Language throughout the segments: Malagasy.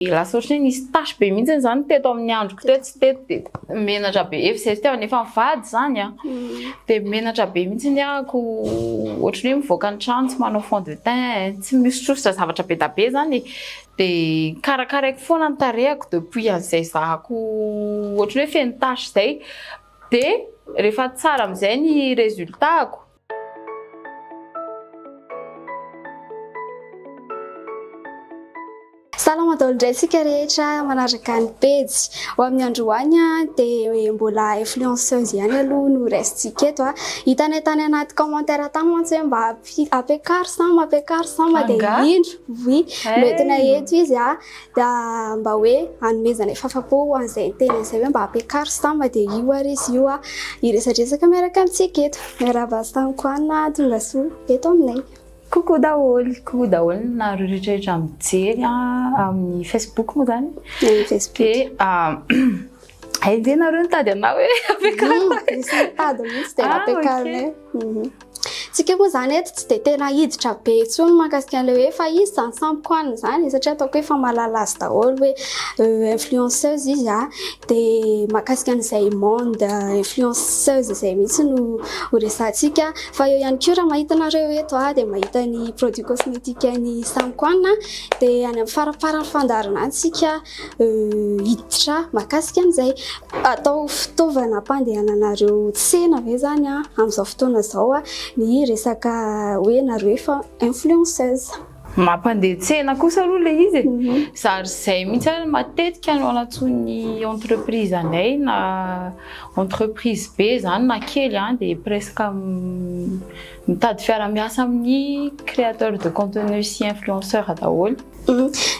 Lasa ohatry ny hoe nisy tache be mihitsy izany teto amin'ny androko teto sy teto dia menatra be, efa izay fitiavana efa mivady izany an, dia menatra be mihitsy ny ahako, ohatry ny hoe mivoaka ny trano tsy manao fond de teint, tsy mihosotrosotra zavatra be dia be izany e, dia karakaraiko foana ny tarehiko depuis an'izay zahako ohatry ny hoe feno tache izay, dia rehefa tsara amin'izay ny résultat-ko, Salama daholo indray isika rehetra manaraka ny pejy. Ho amin'ny androany dia mbola influenceuse ihany aloha no resintsika eto. Hitanay tany anaty commentaire tany mantsy hoe mba ampiakaro samba, ampiakaro samba dia indro oui, eh. noentina eto izy. dia mba hoe hanomezana ny fahafapo ho an'izay niteny an'izay hoe mba ampiakaro stam dia io ary izy io hiresadresaka miaraka amintsika eto. Miarahaba stam Koana tonga soa eto aminay. Coucou daholo, coucou daholo nareo rehetrarehetra mijery amin'ny Facebook moa zany. Amin'ny Facebook. Dia Enjehinareo nitady anao hoe ampiakarina. Misy nitady mihitsy dia nampiakarina. Tsika moa zany eto tsy dia tena hiditra be intsony mahakasika an'ilay hoe fa izy zany samy koanina izany satria ataoko hoe fa mahalala azy daholo hoe euh, influenceuse izy a ah. dia mahakasika an'izay monde euh, influenceuse izay mihitsy no ho resahantsika fa eo ihany koa raha mahita anareo eto a ah, dia mahita ny produit cosmétique ny samy koanina dia any amin'ny faraparany fandaharana antsika hiditra mahakasika an'izay. Atao fitaovana hampandehananareo tsena ve izany amin'izao fotoana izao ny resaka hoe nareo efa influenceuse? Mampandeha tsena kosa aloha ilay izy e. Izaho ry izay mihitsy ary matetika no anantsoin'ny entreprise anay na entreprise be izany na kely dia presque Mitady fiara miasa amin'ny créateur de contenu sy influenceur daholo.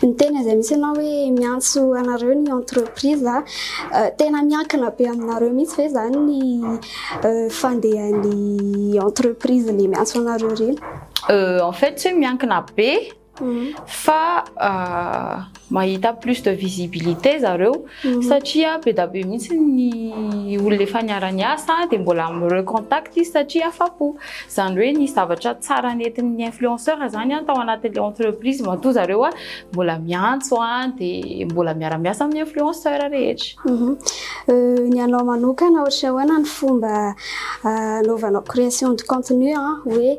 Ny tena izay misy anao hoe miantso anareo ny entreprise tena miankina be aminareo mihitsy ve zany ny fandehan'ny entreprise le miantso anareo reny? En fait miankina be fa mahita plus de visibilité zareo satria be da be mihitsy ny olona efa niara-niasa dia mbola mi-recontact izy satria afa-po. Izany hoe nisy zavatra tsara nentin'ny influenceur izany tao anatin'ilay entreprise matoa zareo mbola miantso dia mbola miara-miasa amin'ny influenceur rehetra. Ny anao manokana ohatran'ny ahoana ny fomba anaovanao création de contenu hoe.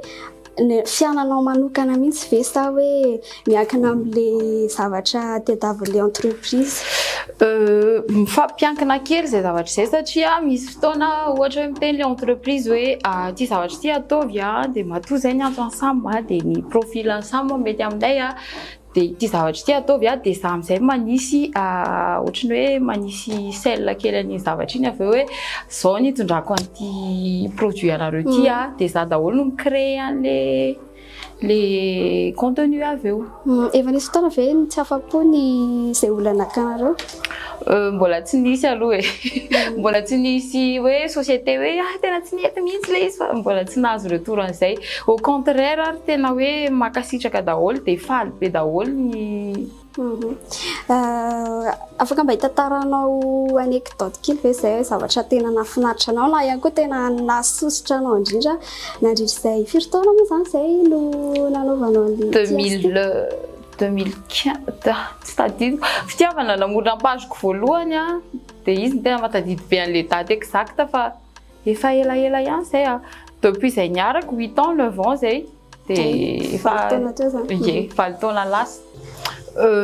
Ny fiananao manokana mihitsy ve sa hoe miankina amin'le zavatra tadiavin'le entreprise? Mifampiankina kely izay zavatra izay satria misy fotoana ohatra hoe miteny ilay entreprise hoe ity zavatra ity ataovy dia matoa izay ny antony samy dia ny profil-n'ny samy mety aminay Dia ity zavatra ity ataovy a, dia za amin'izay manisy ohatry ny hoe manisy sel kely an'iny zavatra iny avy eo hoe zao ny hitondrako an'ity produit anareo ity a, dia za daholo no mi-créer an'le le contenu avy eo. Efa nisy fotoana ve tsy afa-po ny izay olona nakanareo? Euh, mbola tsy nisy aloha e. Mbola tsy nisy hoe société hoe ah tena tsy mety mihitsy le izy fa mbola tsy nahazo retour an'izay. Au contraire ary tena hoe mankasitraka daholo dia faly be daholo ny Mhm. Euh, afaka mba hitantaranao anecdote kely ve izay hoe zavatra tena nahafinaritra anao na ihany koa tena nahasosotra anao indrindra nandritra izay firy taona moa izany izay no nanaovanao an'ilay tiasy ty? 2000 Deux mille quinze, tsy tadidiko, fitiavana namorona ny page-ko voalohany an, dia izy no tena mahatadidy be an'ilay date exacte fa efa elaela ihany izay an, depuis izay niaraka, huit ans, neuf ans izay, dia efa, valo taona teo izany, ie, valo taona lasa.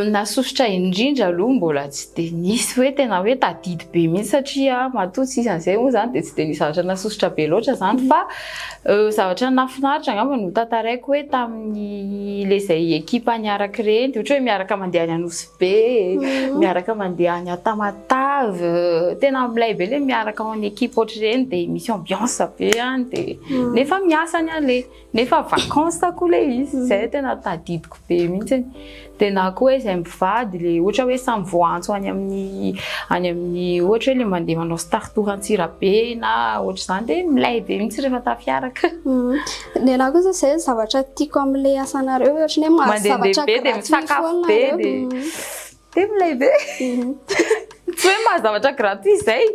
Nasosotra indrindra aloha mbola tsy dia nisy hoe tena hoe tadidy be mihitsy satria matoa tsy isan'izay moa izany dia tsy dia nisy zavatra nasosotra be loatra izany fa Zavatra nahafinaritra angamba no tantaraiko hoe tamin'ny ilay izay ekipa niaraka ireny, ohatra hoe miaraka mandeha any Anosibe, mhm. miaraka mandeha any Tamatave, tena milay be ilay miaraka en équipe ohatr'ireny dia misy ambiance be any dia mhm. nefa miasa any an'ilay, nefa vacances koa ilay izy, izay tena tadidiko be mihitsy. Dia na koa hoe izay mivady, ilay ohatra hoe samy voaantso any amin'ny any amin'ny ohatra hoe ilay mandeha manao star tour Antsirabe na ohatr'izany dia milay be mihitsy rehefa tafiaraka. Ny ahy kosa izay ny zavatra tiako amin'ilay asanareo hoe ohatran'ny hoe mahazo zavatra gratuit foana nareo. Dia milay be. Tsy hoe mahazo zavatra gratuit izay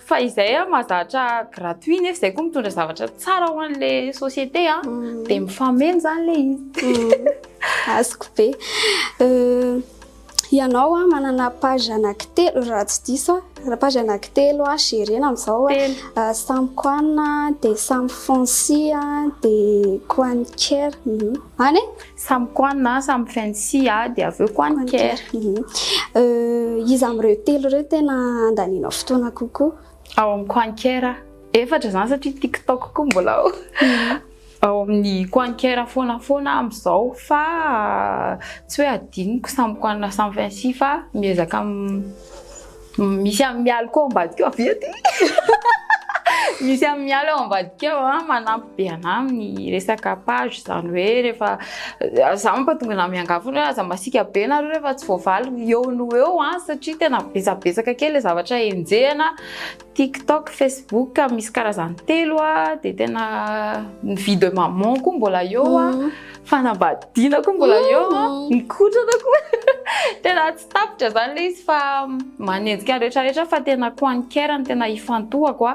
fa izay aho mahazo zavatra gratuit nefa izay koa mitondra zavatra tsara ho an'ilay société dia mifameno izany ilay izy. Azoko be. Ianao a manana page anankitelo raha tsy diso a, page anankitelo a gerena amizao a, Samy Koan a, de Samy Fancy a, de Koan Care, an e? Samy Koan a, Samy Fancy a, de avy eo Koan Care. Iza amin'ireo telo ireo tena andanianao fotoana kokoa? Ao amin'ny Koan Care aho, efatra izany satria TikTok koa mbola ao. ao amin'ny Quanker foana foana amin'izao fa tsy hoe adinoko samy Quan samy Vinci fa miezaka misy amin'ny mialy koa ambadika ao avy ety misy amin'ny mialy ao ambadika ao ah, manampy be anà amin'ny resaka page izany hoe rehefa za manko tonga na miangavy foana hoe aza masiaka be nareo rehefa tsy voavaly eo no eo ah, satria tena betsabetsaka kely le zavatra enjehina Tik tok, Facebook misy karazany telo a, dia tena ny vie de maman koa mbola eo a, fanambadiana koa mbola eo a, mikotrana koa tena tsy tapitra zany le izy fa manenjika ny rehetra rehetra fa tena chroniqueur no tena ifantohako a,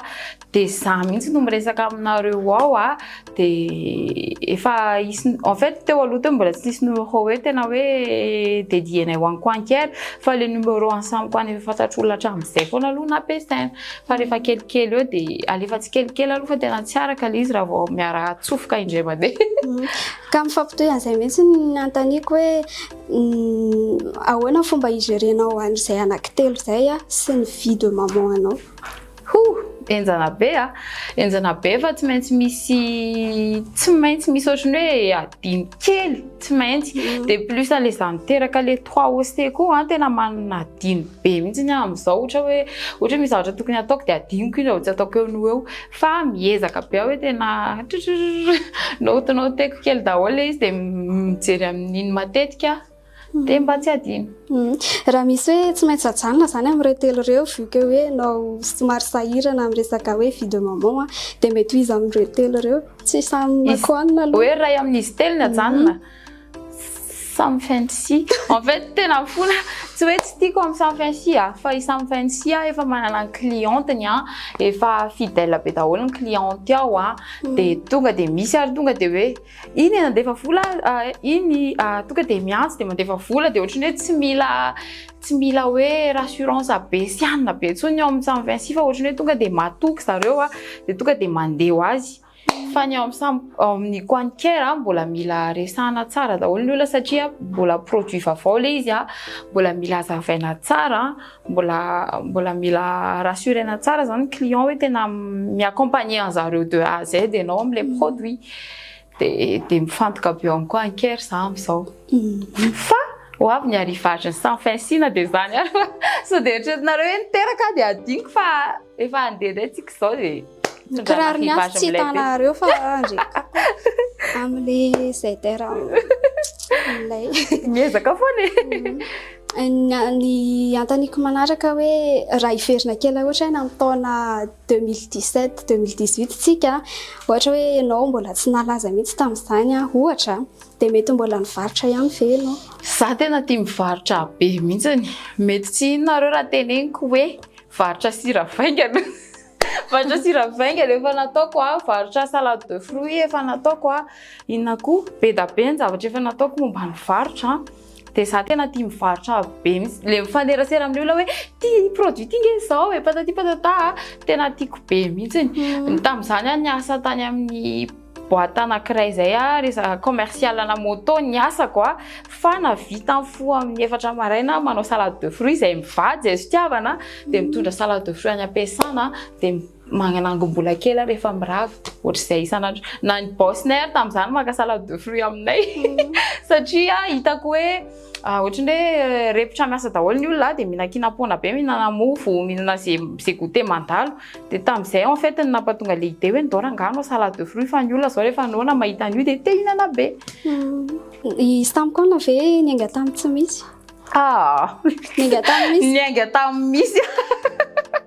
dia za mihitsy no miresaka aminareo ao a, dia efa hisy en fait teo aloha teo mbola tsy nisy numéro hoe tena hoe dedienay ho an'i Quanker fa le numéro an'i Sam Quan efa fantatr'olona hatramin'izay foana aloha nampiasaina fa rehefa kelikely eo dia alefa tsikelikely aloha fa tena tsy araka le izy raha vao miara atsofoka indray mandeha mm. ka mifampitohy an'izay mihitsy ny antaniko hoe mm, ahoana fomba igerenao an'izay anaky telo izay sy ny vie de maman anao Hoo! Enjana be a! Enjana be fa tsy maintsy misy tsy maintsy misy ohatry ny hoe adino kely tsy maintsy mm. de plus an'le za miteraka le trois OC koa an tena manana adino be mihitsy ny amin'izao ohatra hoe ohatra misy zavatra tokony ataoko de adinoko iny raha tsy ataoko eo no eo fa miezaka be aho hoe tena note noteko kely daholo le izy de mijery amin'iny matetika dia mba tsy adino. Mm. Raha misy hoe tsy maintsy ajanona zany amin'ireo telo ireo vu que hoe nao somary sahirana amin'ny resaka hoe vie de maman a dia mety ho iza amin'ireo telo ireo? Tsy samy makoanina aloha. Hoe iray amin'izy telo ny ajanona. Mm-hmm. Samy fancy. En fait tena mifona tsy hoe tsy tiako amin'ny samy fancy a fa i samy fancy a efa manana ny clienteny a efa fidèle be daholo ny cliente ao a mm. dia tonga dia misy ary tonga dia hoe Iny e nandefa vola iny tonga dia miantso dia mandefa vola dia ohatran'ny hoe tsy mila tsy mila hoe rassurance be sy hanina be intsony ny ao amin'ny samy Vinci fa ohatran'ny hoe tonga dia matoky zareo a dia tonga dia mandeha ho azy fa ny ao amin'ny samy ao amin'ny quantier a mbola mila resahana tsara daholo ny olona satria mbola produit vaovao ilay izy a mbola mila hazavaina tsara Mbola mbola mila rassurena tsara zany ny client hoe tena mi-accompagner anzareo de A à Z ianao amin'ilay produit. Dia dia mifantoka avy eo ihany koa anker za amin'izao. Fa ho avy ny arrivage-n'ny sans fin Sina dia izany ary sao dia eritreretinareo hoe niteraka aho dia hadinoko fa. Efa handeha indray tsika izao e. Ny kiraro miafy tsy hitanareo fa andreka amle zay tera lay. Miezaka foana e. Mm. Ny antaniko manaraka hoe raha hiverina kely ohatra hoe amin'ny taona 2017 2018 tsika ohatra hoe ianao mbola tsy nalaza mihitsy tamin'izany ohatra dia mety mbola nivarotra ihany ve ianao? Za tena tia mivarotra be mihitsy. Mety tsy inona raha teneniko hoe Varotra sira vaingana. Varotra sira vaingana efa nataoko a, varotra salade de fruits efa nataoko a, inona koa? Be da be ny zavatra efa nataoko momba ny varotra dia za tena tia mivarotra be mihitsy. Ilay mifanerasera amin'ny olona hoe ity produit ity nge izao e, patati patata a, tena tiako be mihitsy. Tamin'izany aho niasa tany amin'ny. Boite anankiray izay ary izaho commercial ana moto ny asako a, fa na vita ny fo amin'ny efatra maraina aho manao salade de fruits izay mivady izay fitiavana dia mitondra salade de fruits any am-piasana dia manangom-bola kely aho rehefa mirava, ohatr'izay isan'andro. Na ny boss-nay ary tamin'izany maka salade de fruits aminay satria hitako hoe. Ohatran'ny hoe repotra miasa daholo ny olona dia mihinan-kina am-poana be, mihinana mofo, mihinana ze ze goûter mandalo. Dia tamin'izay aho en fait no nampatonga le idée hoe ndao rangahy hanao salade de fruits fa ny olona zao rehefa noana mahita an'io dia te hihinana be. Izy tamiko ana ve niainga tamin'ny tsy misy? Ah, Niainga tamin'ny misy. niainga tamin'ny misy.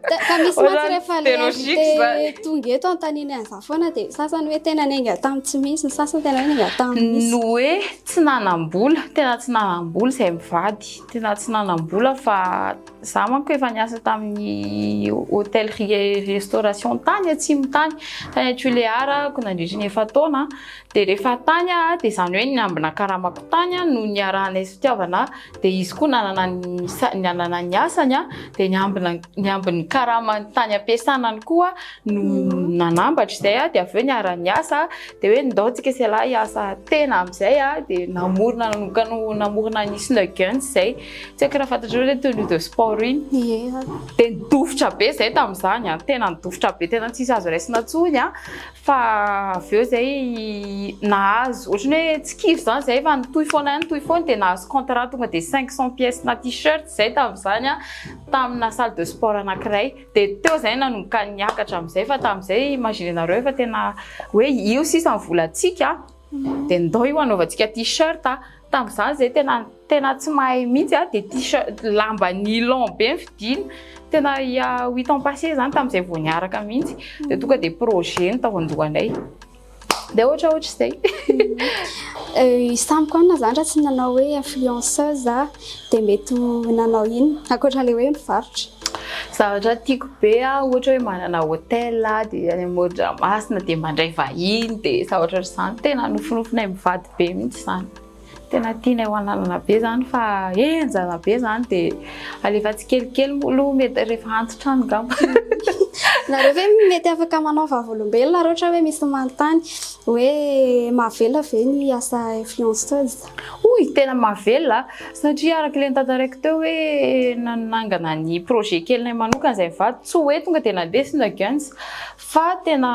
Te- Ka misy Ohatran'ny mantsy rehefa le biologique invité zany. tonga eto antaniny an'izany foana dia sasany hoe tena niainga tamin'ny tsy misy, ny sasany tena hoe niainga tamin'ny misy. Ny hoe Tsy nanam-bola, tena tsy nanam-bola izay mivady, tena tsy nanam-bola fa za manko efa niasa tamin'ny hôtellerie et restauration tany atsimo tany, tany Tulear ako nandritra ny efa-taona, dia rehefa tany aho dia izany hoe niambina karamako tany no niarahanay fitiavana, dia izy koa nanana ny nanana ny asany dia niambina niambin'ny karamany tany am-piasana any koa aho no nanambatra izay dia avy eo niara-niasa dia hoe ndao tsika sy lahy hiasa tena amin'izay dia namorona nanokana namorona ny Snow Guns izay tsy haiko raha fantatrareo ilay tenue de sport iny dia nidofitra be izay tamin'izany an tena nidofitra be tena tsisy azo raisina intsony an fa avy eo izay nahazo ohatran'ny hoe tsy kivy izany izay fa nitohy foana ihany nitohy foana dia nahazo contrat tonga dia cinq cent pièces na tee-shirt izay tamin'izany an tamina salle de sport anankiray Dia teo izay nanomboka niakatra amin'izay fa tamin'izay imaginenareo fa tena hoe io sisa ny volantsika dia ndao io anaovantsika t-shirt. Tamin'izany izay tena tena tsy mahay mihitsy aho dia t-shirt lamba nilon be ny fidina. Tena il y a huit ans passé izany tamin'izay vao niaraka mihitsy dia tonga dia projet no tao an-dohanay. dia ohatra ohatra izay izy tamiko any na zany raha tsy nanao hoe influenceuse za dia mety nanao ino ankoatran'ilay hoe mivarotra zavatra tiako be ah ohatra hoe manana hôtel ah dia any Modramasina dia mandray vahiny dia zavatra ohatr'izany tena nofinofinay mivady be mihitsy izany Tena tianay ho ananana be zany fa henjana be zany de alefa tsikelikely moa aloha mety rehefa antitra any ngamba. Nareo ve mety afaka manao vavolombelona raha ohatra hoe misy manontany hoe mahavelona ve ny asa influenceuse? Oy, tena mahavelona a! Satria araka ilay notantaraiko teo hoe nanangana ny projet kelinay manokana izay mivady, tsy hoe tonga dia nandeha sina guns fa tena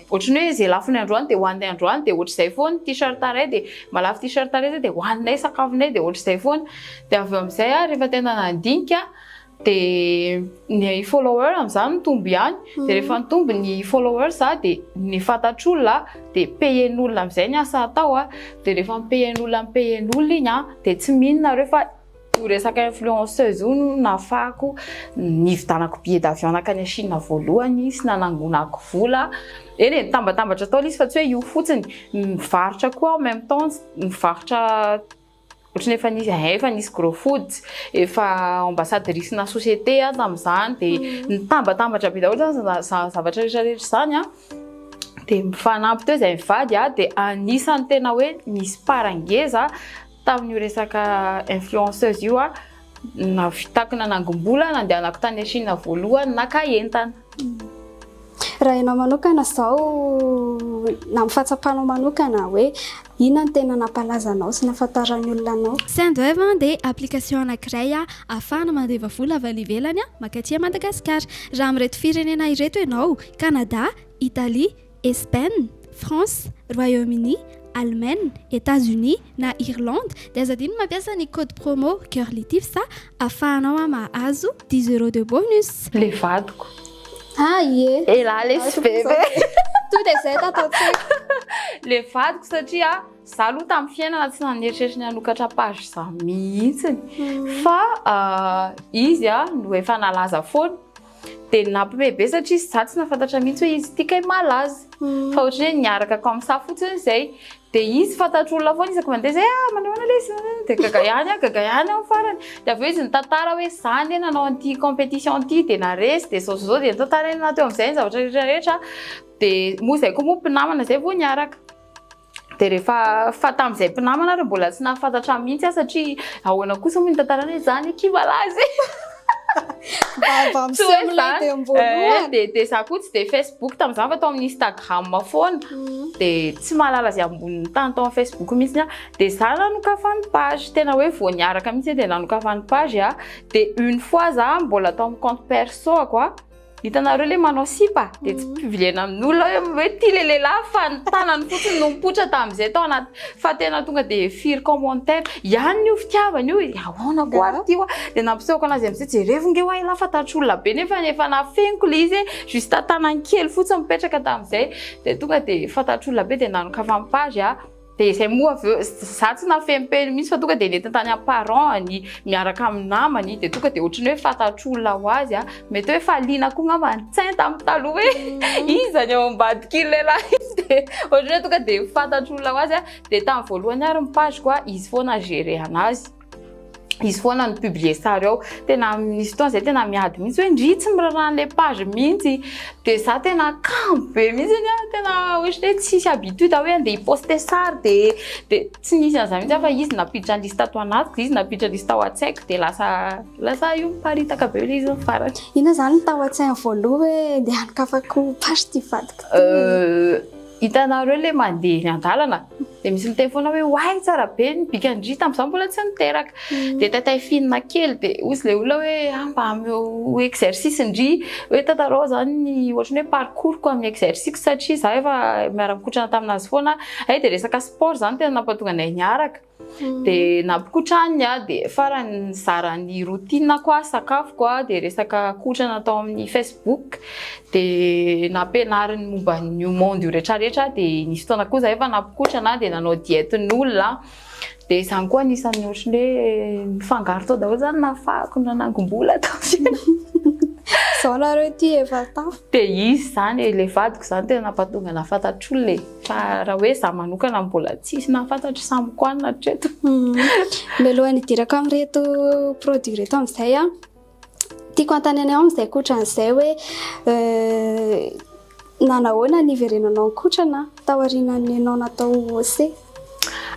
Ohatry ny hoe izay lafo ny androany dia hoaninay androany dia ohatry izay foana, ny t-shirt iray dia mba lafo t-shirt iray izay dia hoaninay sakafonay dia ohatry izay foana. Dia avy eo amin'izay aho rehefa tena nandinika dia ny follower amin'izany mitombo ihany, dia rehefa nitombo ny followers za dia ny fantatr'olona dia payer-n'olona amin'izay ny asa atao, dia rehefa mi-payer-n'olona mi-payer-n'olona iny dia tsy mino nareo fa Io resaka influenceuse io no nahafahako nividanako billet d'avion nakany Chine voalohany sy nanangonako vola. Eny e, nitambatambatra tao ilay izy fa tsy hoe io fotsiny. Nivarotra koa aho en même temps, nivarotra ohatran'ny efa nisy eh, efa nisy Gros Foods, efa ambassadrice-na société aho tamin'izany dia nitambatambatra be daholo izany izany zavatra rehetra rehetra izany an. Dia mifanampy teo izay mivady an, dia anisan'ny tena hoe nisy part ngeza. Tamin'io resaka influenceuse io aho nahavitako nanangom-bola, nandehanako tany Chine voalohany naka entana. Raha ianao manokana izao, na amin'ny fahatsapanao manokana hoe inona no tena nampalaza anao sy nahafantaran'ny olona anao? Sendwave dia application anankiray ahafahana mandeva vola avy any ivelany mankaty Madagasikara. Raha amin'ireto firenena ireto ianao, Canada, Italie, Espaina, France, Royaume-Uni, Allemagne, Etats-Unis na Irlande dia aza adino ny mampiasa ny code promo Curlytips afahanao a mahazo dix euros de bonus. Le vadiko. Ah ie. Elah lesy bebe. To dia zay tataon-tsaiko. Le vadiko satria za aloha tamin'ny fiainana tsy naneritreritry ny hanokatra page za mihitsy fa izy no efa nalaza foana. Dia nampime be satria izaho tsy nahafantatra mihitsy hoe izy ity kay malaza. Fa ohatran'ny hoe niaraka comme ça fotsiny izay. Dia izy fantatro olona foana isaky mandeha izay, ah manao ahoana ilay izy? Dia gaga ihany aho, gaga ihany aho farany. Dia avy eo izy nitantara hoe izaho anie nanao an'ity compétition ity dia naharesy dia izao izao izao. Dia nitantarany teo amin'izay ny zavatra rehetra rehetra. Dia moa izay koa moa mpinamana izay vao niaraka. Dia rehefa fa tamin'izay mpinamana ary mbola tsy nahafantatra ahy mihitsy aho satria ahoana kosa moa ny tantaranay izany akia malaza e! Vava miseho milay dia voalohany. Dia dia za koa tsy dia Facebook tamin'izany fa tao amin'ny Instagram foana. Mm. Dia tsy mahalala izay ambonin'ny tany tao amin'ny Facebook mihitsy aho. Dia za nanokafan'ny page, tena hoe vao niaraka mihitsy dia nanokafan'ny page aho. Dia une fois za mbola tao amin'ny compte perso-ako a. Hitanareo le manao sipa de tsy pivilena amin'olona hoe hoe ty le lehilahy fa ny tanany fotsiny no mipoitra tamin'izay tao anaty fa tena tonga de firy commentaire ihany io fitiavana io ahoana ko ary ty wa de nampisehoako anazy amin'izay jerevo nge wa elah fa tatry olona be nefa efa nafeniko le izy juste tanany kely fotsiny mipetraka tamin'izay de tonga de fa tatry olona be de nanokafany page ah Dia izay moa avy eo, izaho tsy nahafehy ny peniny mihitsy fa tonga dia nentiny tany amin'ny parents-ny miaraka amin'ny namany, dia tonga dia ohatry ny hoe fantatr'olona ho azy aho. Mety hoe efa liana koa angamba ny tsainy tamin'ny taloha hoe iza ny ao ambadiky lehilahy izy, dia ohatry ny hoe tonga dia fantatr'olona ho azy aho. Dia tamin'ny voalohany ary ny page-ko, izy foana no gerehana azy. izy foana ny publier sary ao tena misy fotoana zay tena miady mihitsy hoe ndry tsy miraraha an'ilay page mihitsy dia za tena kamo be mihitsy anie ah, tena ohatran'ny hoe tsisy habitude hoe andeha hiposte sary dia dia tsy nisy an'izany mihitsy aho fa izy nampiditra ny liste tao anatiko dia izy nampiditra ny liste tao an-tsaiko dia lasa lasa io miparitaka be ilay izy ny farany Inona zany tao an-tsainy voaloha hoe andeha hanokafako page ty vadiko ty? Euh, hitanareo le mandeha eny an-dalana Dia misy miteny foana hoe oay tsara be ny bikan-dry tamin'izaho mbola tsy niteraka. Mm. Dia taitaifinina kely dia hoy ilay olona hoe ah, mba ameo exercice-ndry hoe tantarao izany ny ohatran'ny hoe parcours-ko amin'ny exercice satria izaho efa miara-mikotrana taminazy foana. Hay dia resaka sport izany tena nampatonga anay niaraka. Mm. Dia nampikotrany aho dia farany nizara ny routine-ko aho, sakafoko aho dia resaka kotrana tao amin'ny Facebook. Facebook dia nampianariny momba an'io monde io rehetrarehetra dia nisy fotoana koa zahay fa nampikotrana dia nanao diety ny olona dia izany koa anisan'ny ohatrany hoe nifangaro tao daholo izany nafahako na nangom-bola tao Zao nareo ty efa tao. Dia izy zany e, le vadiko zany tena nampatonga nahafantatro olona e. Fa raha hoe za manokana mbola tsisy nahafantatro samy koanina hatreto. Mialohan'ny hidirako amin'ireto produits reto amin'izay a. Tiako hanontanianao amin'izay kotran'izay hoe nanahoana ny hiverenanao ankotrana taorianan'ny ianao natao OC?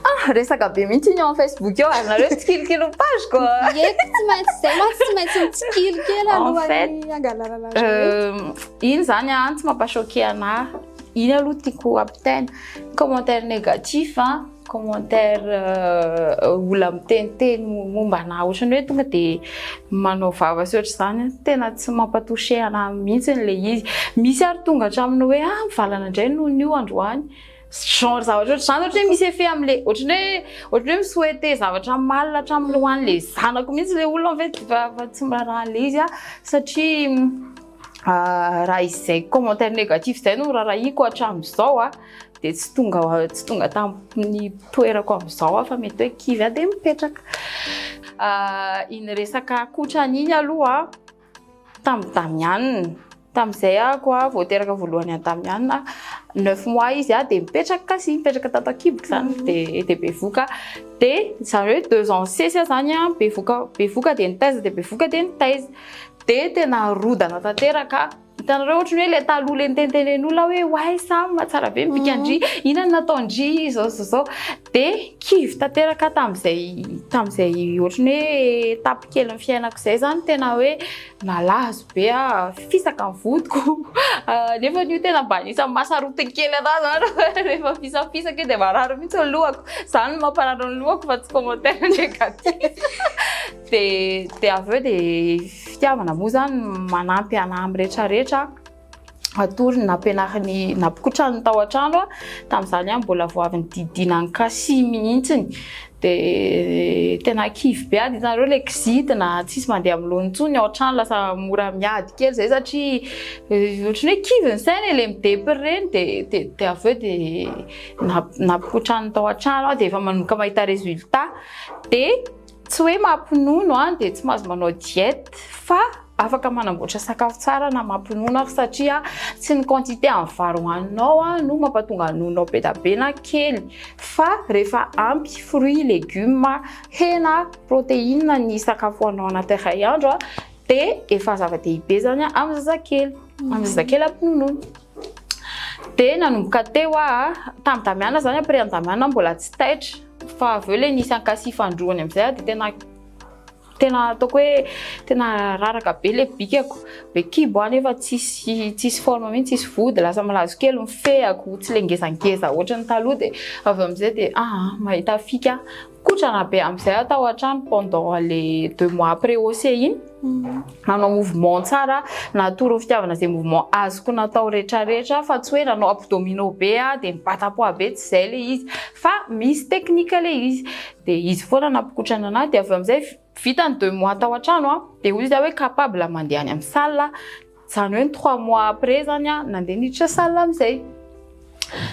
Ah, resaka be mihitsy iny eo amin'ny Facebook eo ary nareo tsy tsikilikily ny page ko. Ie, tsy maintsy izay ma tsy maintsy mitsikilikely alohan'ny hangalarana azy. Euh, iny zany an tsy mampachoquer anahy. Iny aloha tiako ampitaina. Commentaire négatif an. commentaire olona miteniteny momba anah ohatrany hoe tonga de manao vava sy ohatr'izany tena tsy mampatouché anah mihitsy le izy misy ary tonga hatramin'ny hoe ah mivalana indray noho ny io androany genre zavatra ohatr'izany ohatry hoe misy effet amle ohatrany hoe ohatrany hoe mi-souhaiter zavatra mal hatramin'ny ho an'le zanako mihitsy le olona en fait fa tsy miraharaha an'le izy ah satria raha izay commentaire négatif izay no rarahiko hatramin'izao ah dia tsy tonga tsy tonga tamin'ny toerako amin'izao aho fa mety hoe kivy aho dia mipetraka. Iny resaka akotrany iny aloha tamin'i Damianina, tamin'izay ako aho vao teraka voalohany an'i Damianina, neuf mois izy aho dia mipetraka kasi, mipetraka tato an-kiboko izany dia dia bevoka. Dia izany hoe deux ans sesy aho izany an, bevoka bevoka dia nitaiza dia bevoka dia nitaiza. Dia tena rodana tanteraka. Hitanareo ohatry ny hoe ilay taloha ilay nitentenen'olona hoe oay Sam mahatsara be ny bikan-dry, mhm. inona no nataon-dry izao izao izao. Dia kivy tanteraka tamin'izay tamin'izay ohatry ny hoe etapy kely ny fiainako izay izany tena hoe nalazo be ah fisaka ny vodiko. Ah, nefa io tena mba anisan'ny mahasarotin'ny kely anahy izany rehefa fisafisaka dia marary mihitsy ny lohako. Izany no mamparary ny lohako fa tsy commentaire negatif. Dia dia avy eo dia fitiavana moa izany no manampy anà amin'ny rehetra rehetra hatory ny nampianarin'i nampokotrany tao an-trano tamin'izany aho mbola vao avy nididiana an'i Cassie mihitsy. Dia tena kivy be aho, dia hitanareo ilay kizitina, tsisy mandeha amin'ny laoniny intsony ny ao an-trano, lasa mora miady kely izay satria ohatran'ny hoe kivy ny saina e, ilay midepy ireny. Dia dia dia avy eo dia nampokotrany tao an-trano aho dia efa manomboka mahita résultat. Dia Tsy hoe mampinono aho dia tsy mahazo manao diète fa afaka manamboatra sakafo tsara na mampinono aho satria tsy ny quantité amin'ny vary hohaninao no mampatonga ny nononao be dia be na kely fa rehefa ampy fruits, légumes, hena, protéines ny sakafo hohaninao anaty iray andro dia efa zava-dehibe izany amin'ny zazakely, amin'ny zazakely ampinonoina. Dia nanomboka teo aho, tamin'i Damiana izany, après an'i Damiana aho mbola tsy taitra. Fa avy eo ilay nisy ankasy ifandroany amin'izay aho dia tena tena ataoko hoe tena raraka be ilay bikako. Be kibo aho nefa tsisy tsisy forme mihitsy, tsisy vody, lasa malazo kely, mifehako, tsy ilay ngezangeza ohatry ny taloha dia avy amin'izay dia ah, ah mahita fika aho. Kotrana be amin'izay aho tao an-trano pendant ilay deux mois après OC iny. nanao mouvement tsara natoro fitiavana zay mouvement azoko natao retraretra fa tsy hoe nanao abdomino be a de mibatapoa be tsy zay le izy fa misy technique le izy de izy foana nampikotrana anahy de avy eo amizay vitany deux mois tao antrano a de hoy izy hoe capable mandeha any amin'ny salle Zany hoe ny trois mois après zany a nandeha niditra salle amizay.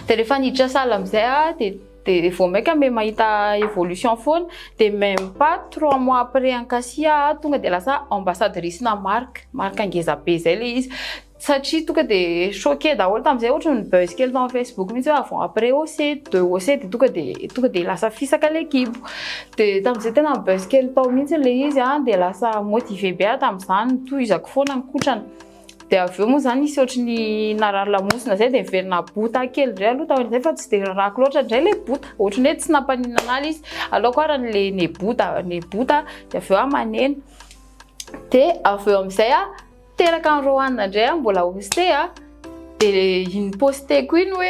De rehefa niditra salle amizay a de de vao maika me mahita évolution foana de même pas trois mois après ankasy a tonga de lasa ambassadrice na marque, marque ngeza be zay le izy. Satria tonga de choqué daholo tamizay ohatra ny buzz kely tao am facebook mintsy hoe avant après OC, de OC de tonga de tonga de lasa fisaka le kibo. Dia tamin'izay tena nibaisse kely tao mihitsy ilay izy an, dia lasa motivé be aho tamin'izany, nitohizako foana ny kotrana. Dia avy eo moa izany nisy ohatry ny narary lamosina izay dia niverina bota kely indray aloha taorian'izay fa tsy dia rarako loatra indray ilay bota. Ohatry ny hoe tsy nampaninona an'ala izy. Aleoko ary an'ilay nebota, nebota dia avy eo aho maneno. Dia avy eo amin'izay aho Teraka any Roanne indray aho mbola hoste a, dia iny posteko iny hoe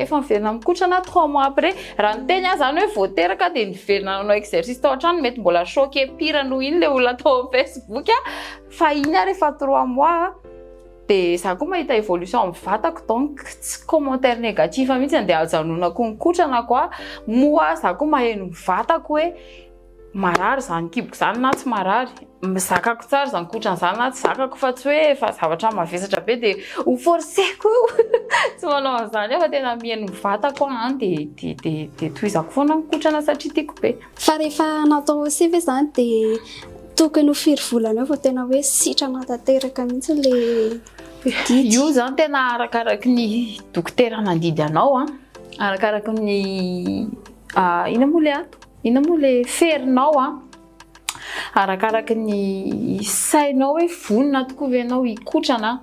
efa miverina mikotrana trois mois après. Raha niteny aho izany hoe vao teraka dia niverina nanao exercice tao an-trano, mety mbola choqué pire noho iny ilay olona tao amin'ny Facebook a, fa iny ary efa trois mois a. Dia izaho koa mahita évolution amin'ny vatako donc tsy commentaire négatif mihitsy andeha hajanonako ny kotrana quoi. Moa izaho koa maheno ny vatako hoe. marary izany kiboko izany na tsy marary, zakako tsara izany kotra an'izany na tsy zakako fa tsy hoe efa zavatra mavesatra be dia ho forceko io tsy manao an'izany aho fa tena mihaino ny vatako aho an dia dia dia dia tohizako foana ny kotrana satria tiako be. Fa rehefa natao OC ve izany dia tokony ho firy volana eo vao tena hoe sitrana tanteraka mihitsy ilay didy? Io izany tena arakaraky ny dokotera nandidy anao an, arakaraky ny inona moa ilay antoko? Inona moa le ferinao a? Arakaraky ny sainao hoe vonona tokoa ve ianao hikotrana?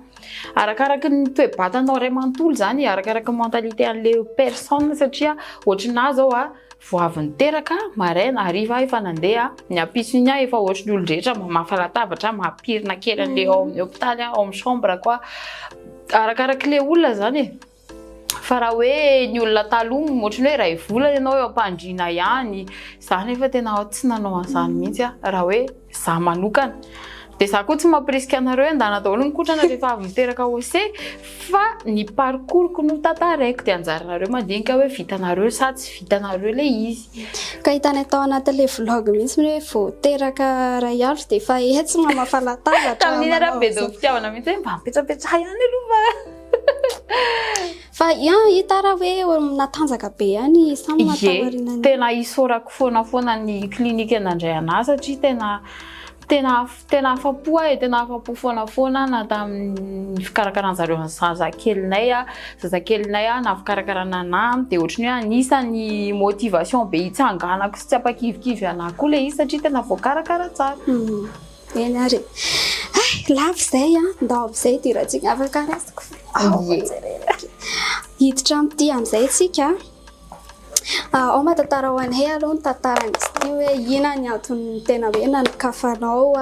Arakaraky ny toe-batanao iray manontolo izany, arakaraky ny mentalité an'le personne satria ohatry nahy zao a, vao avy niteraka, maraina, hariva aho efa nandeha, ny ampitson'iny aho efa ohatry ny olon-drehetra mamafa latabatra, mampirina kely an'le ao amin'ny hopitaly aho, ao amin'ny chambre-ko aho. Arakaraky le olona zany e. Fa raha hoe ny olona taloha ohatran'ny hoe iray volana ianao eo am-pandriana ihany, izaho nefa tena tsy nanao an'izany mihitsy aho raha hoe izaho manokana. Dia izaho koa tsy mampirisika anareo hoe handana daholo ny kotrana rehefa avy niteraka ose fa ny parcours-ko notantaraiko dia anjaranareo mandinika hoe vitanareo sa tsy vitanareo ilay izy. Ka hitanay tao anatin'ilay vlog mihitsy hoe vao teraka iray andro dia efa etsy mamafa latabatra, manao izao. Tamin'iny ary aho be dom-pitiavana mihitsy hoe mba mipetsampetsaha ihany aloha fa. Fa yan hita raha hoe natanjaka be ihany samy matamarina. Tena isaorako foana foana ny clinique nandray anahy satria tena tena tena afapo aho e, tena afapo foana foana na tamin'ny fikarakarana zareo ny zazakelinay a, zazakelinay a na fikarakarana anahy de ohatry ny hoe anisany motivation be itsanganako sy tsy ampakivikivy anahy koa le izy satria tena voakarakara tsara. Eny ary Ay, lavo izay an, ndao amin'izay idirantsika afaka raisiko fa ao Ie. jerena ke. Hiditra amin'ity amin'izay isika an. Ah, ao mahatantara ho anay aloha ny tantaran'izy ity hoe inona ny antony tena hoe nanokafanao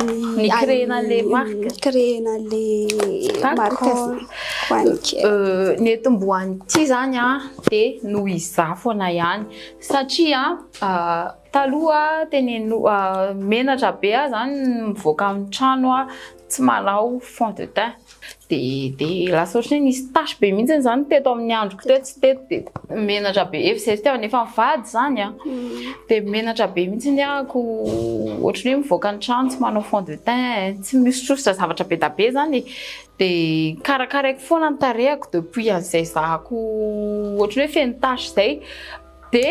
ny Ni-créer-na an'i- an'ilay marque. ni-créer-na an'ilay marque D'accord. izay ho an'ny kely. Euh, ny etombohan'ity izany an, dia noho izaho foana ihany. Satria an, ah, Taloha teneno menatra be aho zany mivoaka amin'ny trano aho tsy manao fond de teint de de lasa ohatry ny nisy tache be mihitsy izany teto amin'ny androko teto sy teto de menatra be efa izay fitiavana efa mivady zany a de menatra be mihitsy ny ahako ohatry ny hoe mivoaka ny trano tsy manao fond de teint tsy misotrosotra zavatra be da be zany e de karakaraiko foana ny tarehako depuis an'izay zahako ohatry ny hoe feno tache izay De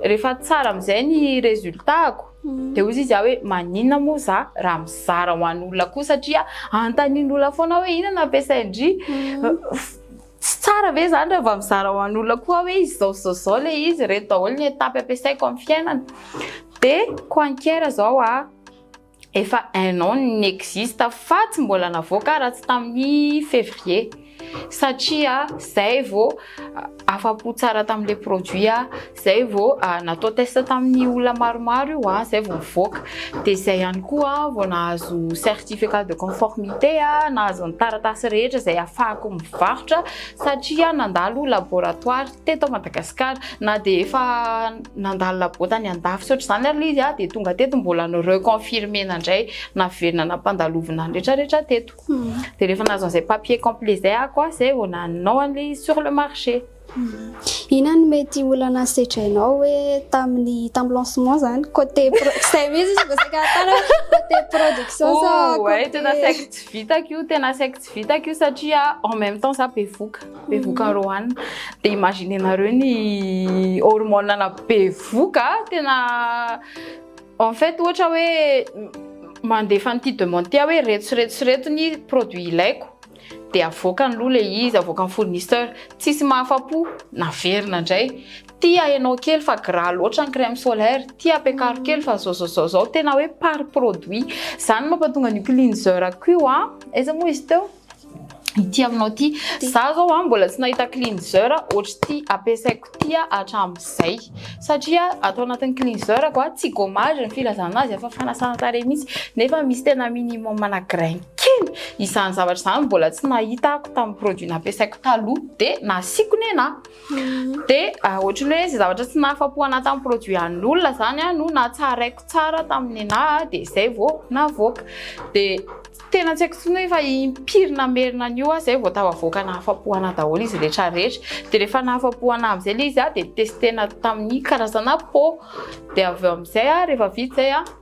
rehefa tsara amin'izay ny résultat-ko de hoy izy aho hoe maninona moa za raha mizara ho an'olona koa satria antanin'olona foana aho hoe inona no ampiasain-dry tsy tsara ve zany raha vao mizara ho an'olona koa aho hoe izao sy izao sy izao le izy, ireto daholo ny étape ampiasaiko amin'ny fiainana de coinquer zao aho. efa un an ny existe fa tsy mbola navoaka raha tsy tamin'ny février satria zay vao afa-po tsara tamin'ilay produit aho, zay vao natao test tamin'ny olona maromaro io aho, zay vao nivoaka, dia zay ihany koa aho vao nahazo certificat de conformité, nahazo ny taratasy rehetra izay ahafahako mivarotra satria nandalo laboratoire. teto Madagascar na dia efa nandalo labota any andafy tsy ohatr'izany ary ilay izy ah dia tonga teto mbola ny reconfirmer-na indray naverina nampandalovina ny retraretra teto dia rehefa nahazo an'izay papier complet izay ah koa izay vao nanao an'ilay izy sur le marché Ina no mety olana sedrainao hoe tamin'ny tamin'ny lancement izany côté izay mihitsy izy vao saika natao côté production sa côté oh, tena saika tsy vitako io tena saika tsy vitako io satria en même temps za bevoka bevoka Roanne dia imaginer nareo ny hormone ana bevoka tena en fait ohatra hoe mandefa an'ity demande ity aho hoe reto sy reto sy reto ny produit ilaiko dia avoakany aloha le izy avoakan'ny fournisseur tsisy mahafapo naverina indray tia ianao kely fa gras loatra ny crème solaire tia ampiakaro kely fa zao zao zao zao tena hoe par produit zany mampatonga an'io cleanser ko io a aiza moa izy teo ity aminao ity. Za zao a mbola tsy nahita cleanser ohatr'ity ampiasaiko ity a hatramin'izay. Satria ato anatin'ny cleanser ko a tsy gommage ny filazana azy fa fanasana tarehy mihitsy nefa misy tena minimum na grain kely. Izany zavatra izany mbola tsy nahita ako tamin'ny produit nampiasaiko taloha dia nasiako nena. Dia ohatry ny hoe izay zavatra tsy nahafapo ana tamin'ny produit an'olona izany no natsaraiko tsara tamin'ny nena dia izay vao navoaka. Dia Tena tsy haiko intsony hoe efa impiry namerina an'io aho izay vao tafavoaka nahafapo an'ahy daholo izy rehetra rehetra. Dia rehefa nahafapo an'ahy amin'izay ilay izy aho dia testena tamin'ny karazana po. Dia avy eo amin'izay aho rehefa vita izay aho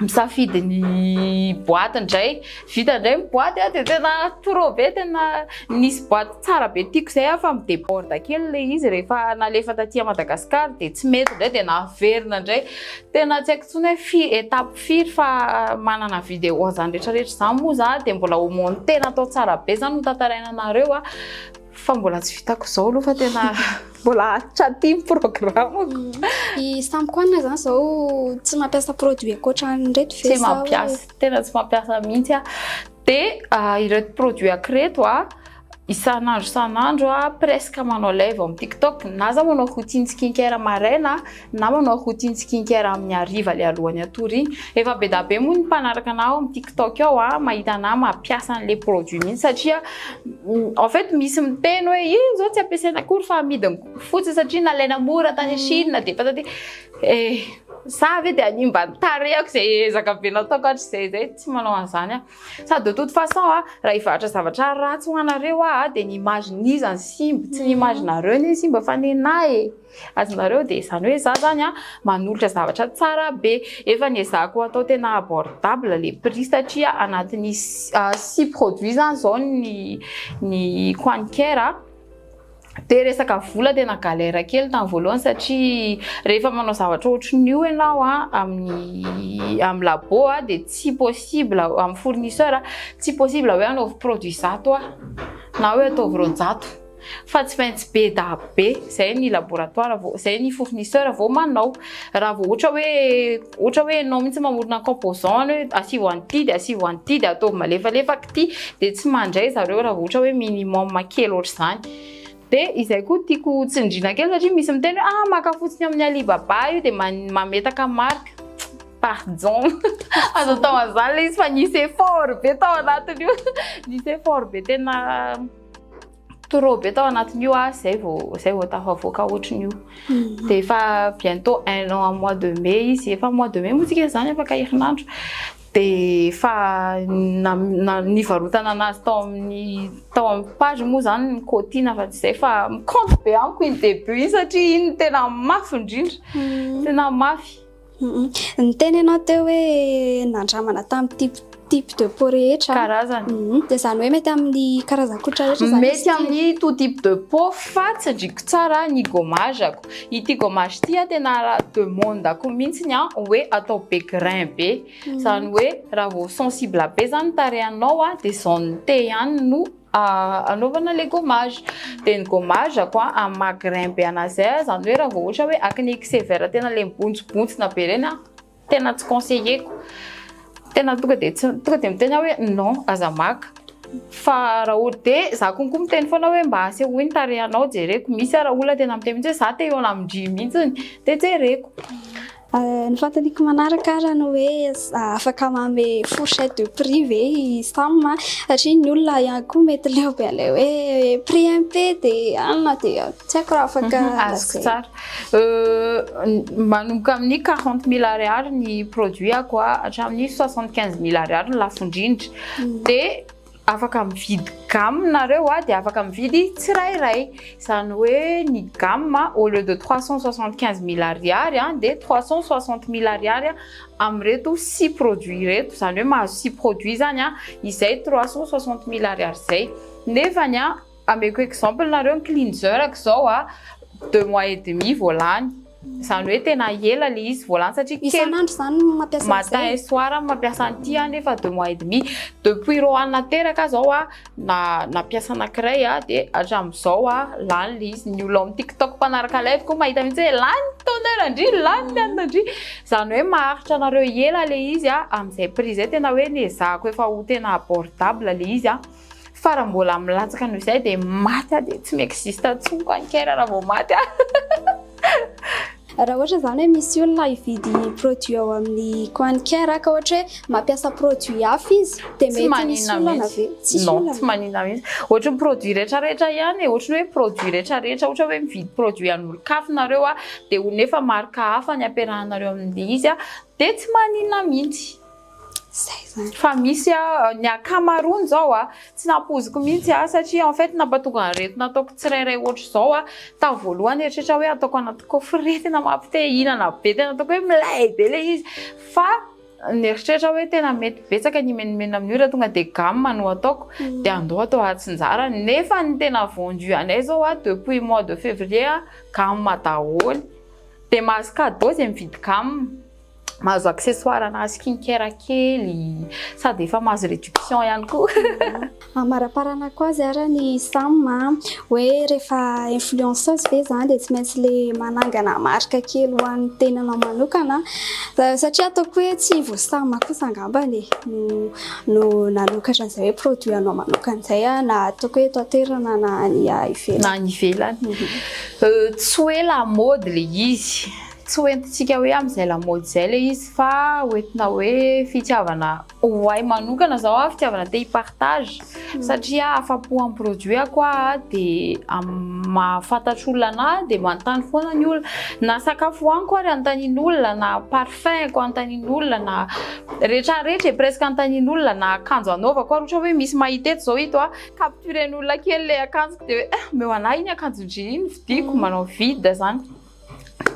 misafidy ny boaty indray. Vita indray ny boaty aho dia tena trop be tena nisy boaty tsara be tiako izay aho fa mi-déborde kely ilay izy rehefa nalefa taty Madagascar dia tsy mety indray dia naverina indray. Tena tsy haiko intsony hoe fi- étape. Firy fa manana vidéo an'izany rehetra rehetra izany moa za dia mbola ho monter natao tsara be izany ho tantaraina anareo a. Fa mbola tsy vitako izao aloha fa tena mbola aty ny programme-ko. Ny samy koa na zany zao tsy mampiasa produit ankoatra an'ireto ve sa hoe. Tsy mampiasa, tena tsy mampiasa mihitsy aho. Dia ireto produit-ko ireto a. isan'andro isan'andro a presque manao live amin'ny tiktok na za manao routine skincare maraina na manao routine skincare amin'ny hariva le alohan'ny hatory iny efa be da be moa ny mpanaraka anah ao amin'ny tiktok ao a mahita anah mampiasa an'le produit mihitsy satria en fait misy miteny hoe io zao tsy ampiasaina akory fa amidiny fotsiny satria nalaina mora tany chine de patati eh za ve de hanimba ny tarehiko zay ezaka be nataoko hatrizay zay tsy manao an'zany aho Ça de toute façon a, raha hivarotra zavatra ratsy ho anareo aho a, dia ny image n'iza ny simba? Tsy ny image nareo anie ny simba fa nenah e! Azonareo dia izany hoe za zany a manolotra zavatra tsara be. Efa niezahako hatao tena abordable le prix satria anatin'ny six produits zany zao ny ny Quanker a. Dia resaka vola tena galère kely tamin'ny voalohany satria rehefa manao zavatra ohatrin'ny io ianao amin'ny amin'ny labo dia tsy possible amin'ny fournisseur tsy possible hoe anaovy produit zato na hoe ataovy roanjato fa tsy maintsy be dahabe izay ny laboratoire vao izay ny fournisseur vao manao raha vao ohatra hoe ohatra hoe ianao mihitsy mamorona composant any hoe asivo an'ity dia asivo an'ity dia ataovy malefalefaky ity dia tsy mandray zareo raha vao ohatra hoe minimum kely ohatr'izany dia izay koa tiako tsindrina kely satria misy miteny hoe ah maka fotsiny amin'ny Alibaba io dia mametaka marque pardon azo atao an'izany ilay izy fa nisy effort be tao anatin'io nisy effort be tena trop be tao anatin'io ah zay vao zay vao tafavoaka ohatrin'io de efa bientôt un an mois de mai izy efa mois de mai moa tsika zany afaka herinandro de efa nivarotana anazy tao amin'ny tao amin'ny page moa zany ny cotina fa tsy zay fa compte be amiko iny debut iny satria iny tena mafy indrindra hmm. tena mafy Niteny ianao teo hoe nandramana tamin'ity type de peau rehetra. Karazana. Mhm. Dia izany hoe mety amin'ny karazan-koditra rehetra izany Mety amin'ny tout type de peau fa tsindriko tsara ny gommage-ako. Ity gommage ity tena demande-ko mihitsy ny hoe atao be grain be. Izany hoe raha vao sensible be izany ny tarehinao dia izao nite ihany no anaovana le gommage de ny gommage ako a amin'ny maha grain be anazy zay zany hoe raha vao ohatra hoe akne ky sévère tena le mibontsibontsina be reny a tena tsy conseilleko tena tonga de tsy tonga de miteny aho hoe non aza maka fa raha ohatra de za konko miteny foana hoe mba asehoy ny tarehinao jereko misy ara olona tena miteny mihitsy hoe za te hihaona amin-dry mihitsy de jereko Ny fanontaniako manaraka arany hoe afaka manome fourchette de prix ve i Sam a? Satria ny olona ihany koa mety leo be an'ilay hoe prix MP dia any na dia tsy haiko raha afaka lazaina. Azoko tsara. Manomboka amin'ny quarante mille ariary ny produit-ko hatramin'ny soixante quinze mille ariary ny lafo indrindra. Dia Afaka mividy gamme nareo a, dia afaka mividy tsirairay, izany hoe ny gamme au lieu de trois cent soixante quinze mille ariary a, dia trois cent soixante mille ariary amin'ireto six produits ireto, izany hoe mahazo six produits izany a, izay trois cent soixante mille ariary izay, nefany a. Ameko exemple nareo ny cleanser ko zao a deux mois et demi vao lany zany hoe tena ela le izy vao lany satria kely Isan'andro zany no mampiasa an'izay? matin et soir aho no mampiasa an'ity a nefa deux mois et demi depuis Roanne nateraka aho zao a na nampiasa anakiray a de hatram'izao a lany le izy ny olona ao amin'ny tiktok mpanaraka live ko mahita mihitsy hoe lany ny toner ndry lany ny anona ndry zany hoe maharitra anareo ela le izy a amin'izay prix zay tena hoe nezahako efa ho tena abordable le izy a. Fa raha mbola milatsaka noho izay dia maty aho dia tsy mi-existe intsony ko an'i Kera raha vao maty aho. Raha ohatra izany hoe misy olona hividy produit ao amin'ny Coin Care ka ohatra hoe mampiasa produit hafa izy dia mety misy olana ve? Tsisy olana. Non, tsy manina mihitsy. Ohatry ny produit rehetra rehetra ihany e, ohatry ny hoe produit rehetra rehetra, ohatra hoe mividy produit an'olon-kafa nareo dia ho nefa marque hafa ny ampiarahanareo amin'ilay izy dia tsy manina mihitsy. Zay zany. Fa misy aho, ny ankamaroany zao a, tsy nampoiziko mihitsy a, satria en fait nampatonga an'ireto nataoko tsirairay ohatra izao a, tamin'ny voalohany nieritreritra aho hoe ataoko anaty coffret, tena mampite hihinana be, tena ataoko hoe milay be ilay izy, fa nieritreritra aho hoe tena mety betsaka ny himenomenona amin'io raha tonga dia gamme no ataoko, dia andao atao atsinjarany, nefa ny tena vendu anay izao a, depuis mois de février a, gamme daholo, dia mahazo cadeau izay mividy gamme. mahazo accessoire na skin care kely sady efa mahazo réduction ihany koa. Amaraparanako azy ara ny Sam hoe rehefa influenceuse ve zany dia tsy maintsy le manangana marika kely ho an'ny tenanao manokana satria ataoko hoe tsy vao Sam kosa angambany e no no nanokatra an'izay hoe produit anao manokana izay aho na ataoko hoe eto an-toerana na any ivelany. Na any ivelany. Tsy hoe lamaody le izy. Tsy ho entintsika hoe amin'izay lamaody izay ilay izy fa ho entina hoe fitiavana ho ahy manokana izao aho fitiavana te hi-partage satria afa-po am-produit ako aho dia mahafantatro olona anahy dia manontany foana ny olona na sakafo hohaniko ary anontanian'olona na parfum ko anontanian'olona na rehetra rehetra e presque anontanian'olona na akanjo anaovako ary ohatra hoe misy mahita eto izao ito a capturen'olona kely ilay akanjoko dia hoe eh omeo anah iny akanjon-dry iny vidiko manao vide izany.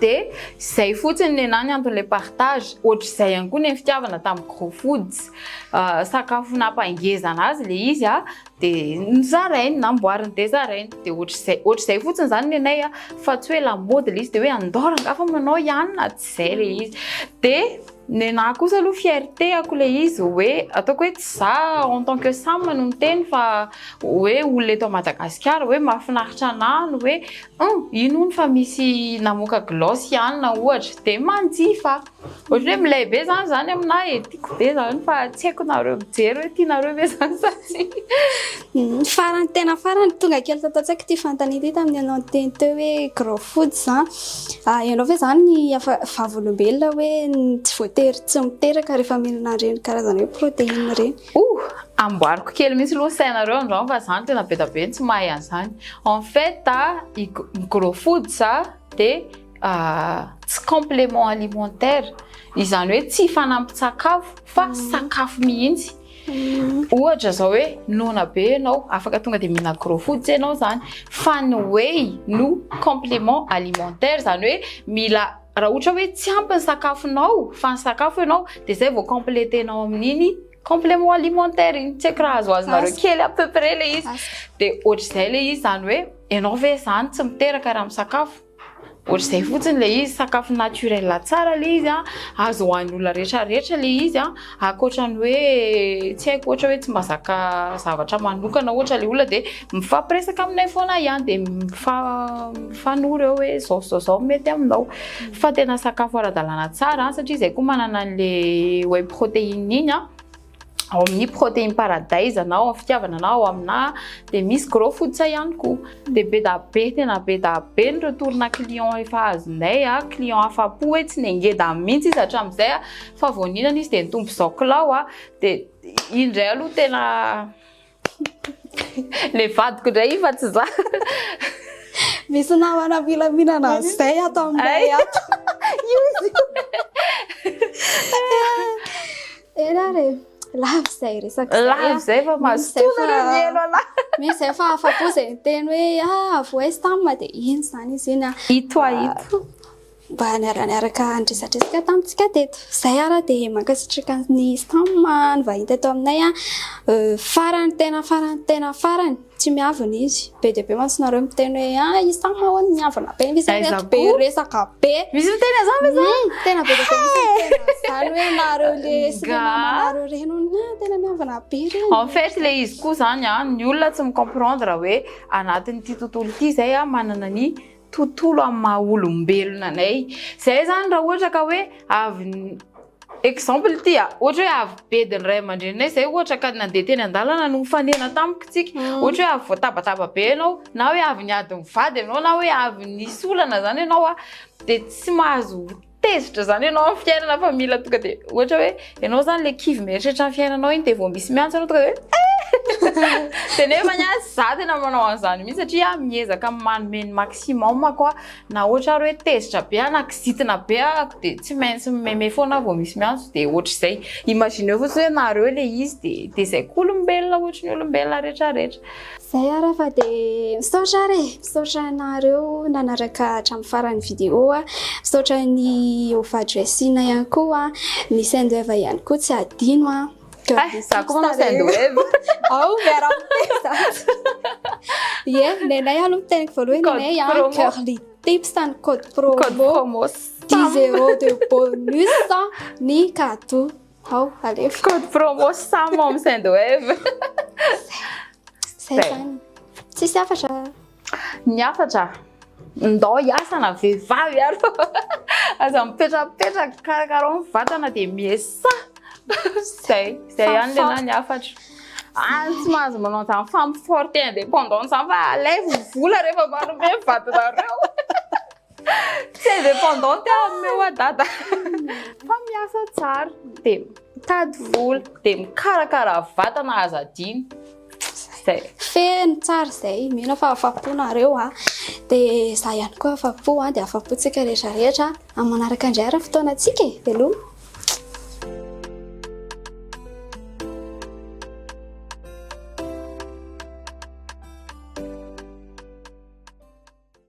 De zay fotsiny nenah ny anton'ilay partage, ohatr'izay ihany koa ny fitiavana tamin'ny Gros Foods, sakafo nampangezana azy ilay izy a, de nozarainy, namboariny de zarainy, de ohatr'izay, ohatr'izay fotsiny zany nenay a, fa tsy hoe lamaody ilay izy de hoe andao rangaha fa manao ihany na tsy izay ilay izy, de. Nenaha kosa aloha fierté-ako ilay izy hoe ataoko hoe tsy za en tant que Sam no miteny fa hoe olona eto Madagasikara hoe mahafinaritra anahy ny hoe hum ino hono fa misy namoaka gloss i Anna ohatra dia manjifa ohatra hoe milay be zany zany aminah e, tiako be zany fa tsy haiko nareo mijery hoe tianareo ve zany sa tsia. Farany tena farany tonga kely tato an-tsaiko ity fanontaniana ity tamin'ny ianao niteny teo hoe grow food an, ianao ve izany ny vavolombelona hoe tsy voatery tsy miteraka rehefa mihinana an'ireny karazana hoe protéine ireny? Ouh! Amboariko kely mihitsy aloha ny sainareo angamba fa izaho no tena be dia be no tsy mahay an'izany. En fait, ny grow foods dia tsy complément alimentaire, izany hoe tsy fanampin-tsakafo fa sakafo mihitsy. Ohatra zao hoe noana be ianao, afaka tonga dia mihinana gros fotsy ianao izany, fa ny whey no complément alimentaire, izany hoe mila raha ohatra hoe tsy ampy ny sakafonao fa nisakafo ianao dia izay vao compléter-nao amin'iny complément alimentaire iny, tsy haiko raha azo azonareo kely à peu près ilay izy, dia ohatr'izay ilay izy, izany hoe ianao ve izany tsy miteraka raha misakafo? Ohatr'izay fotsiny ilay izy, sakafo naturel tsara ilay izy an, azo hohanin'ny olona rehetra rehetra ilay izy an, ankoatra ny hoe tsy haiko ohatra hoe tsy mazaka zavatra manokana ohatra ilay olona dia mifampiresaka aminay foana ihany dia mifanoro eo hoe zao zao zao mety aminao, fa tena sakafo ara-dalàna tsara an, satria izahay koa manana an'ilay whey protein iny an. ao amin'ny protéine paradise anao amin'ny fitiavana anao ao aminà dia misy gros fototra ihany koa dia be da be tena be da be ny retourna client efa azonay a client afa-po hoe tsy nengeda mihitsy izy hatramin'izay a fa vao nihinana izy dia nitombo zao kilao a dia iny indray aloha tena Le vadiko ndray io fa tsy za. Misy namana milaminana an'izay ato aminay ato. Io izy. Ela re. Lavo izay resaka. Lavo izay fa mazotoana re ny elo ala. Misy izay fa afa-po izay miteny hoe ah voice tam dia iny izany izy iny. Ito ah ito. mba niara-niaraka niresadresaka tamintsika teto. Izay ary dia mankasitraka ny STAM nivahiny teto aminay. Euh, farany tena farany tena farany tsy miavona izy. Be dia be mantsy nareo miteny hoe ah i STAM hono miavona be misy ireto be resaka be. Misy miteny azany ve zany? Hmm, tena be dia be misy miteny azany hoe nareo le sy le mamanareo reny hono ah, tena miavona be reny. En fait le izy koa zany ah, ny olona tsy mi-comprendre hoe anatin'ity tontolo ity izay ah manana ny tontolo amin'ny maha olombelona anay. Izay zany raha ohatra ka hoe avy exemple ity a, ohatra hoe avy bedin'ny ray aman-dreninay izay ohatra ka nandeha teny an-dalana no nifanena tamiko isika, ohatra hoe avy voatabataba be ianao, na hoe avy niady mivady ianao, na hoe avy nisy olana izany ianao, dia tsy mahazo. Tezitra zany ianao amin'ny fiainana fa mila tonga dia ohatra hoe ianao zany le kivy mieritreritra ny fiainanao iny dia vao misy miantso anao tonga dia dia nefa ny azy za tena manao an'izany mihitsy satria miezaka manome ny maximum ako a na ohatra ary hoe tezitra be aho na kizitina be ako dia tsy maintsy mimeme foana aho vao misy miantso dia ohatr'izay imagineo fotsiny hoe nareo le izy dia dia izay koa olombelona ohatry ny olombelona rehetra rehetra Zay ara fa de misaotra ary e! Misaotra anareo nanaraka hatramin'ny faran'ny vidéo a! Misaotra an'i Ova Dressing ihany koa a! Ny Sendwave ihany koa tsy adino a! Ay, za koa manao Sendwave! Ao miara-miteny zany! Ie, ny anay aloha ny teniko voalohany ny anay a! Curly Tips ny code promo! Code promo! 10 euros de bonus ny cadeaux! Hao, alefa. Code promo Sam ao amin'ny Sendwave. Zay Zay. zany. Tsisy hafatra. Ny hafatra, ndao hiasa na vehivavy ary fa aza mipetrapetraka karakarao ny vatana dia miesa. Zay, zay ihany le na ny hafatra. Ah, tsy mahazo manao an'izany femme forte indépendante izany fa alaivo vola rehefa manome vatanareo. Tsy indépendante aho amin'ny oa dada. Fa miasa tsara, dia mitady vola, dia mikarakara vatana aza adino. Zay. Feno tsara zay, mino fa afa-po nareo a. Dia za ihany koa afa-po a, dia afa-po tsika rehetra rehetra. Amin'ny manaraka indray ary ny fotoanantsika e, veloma.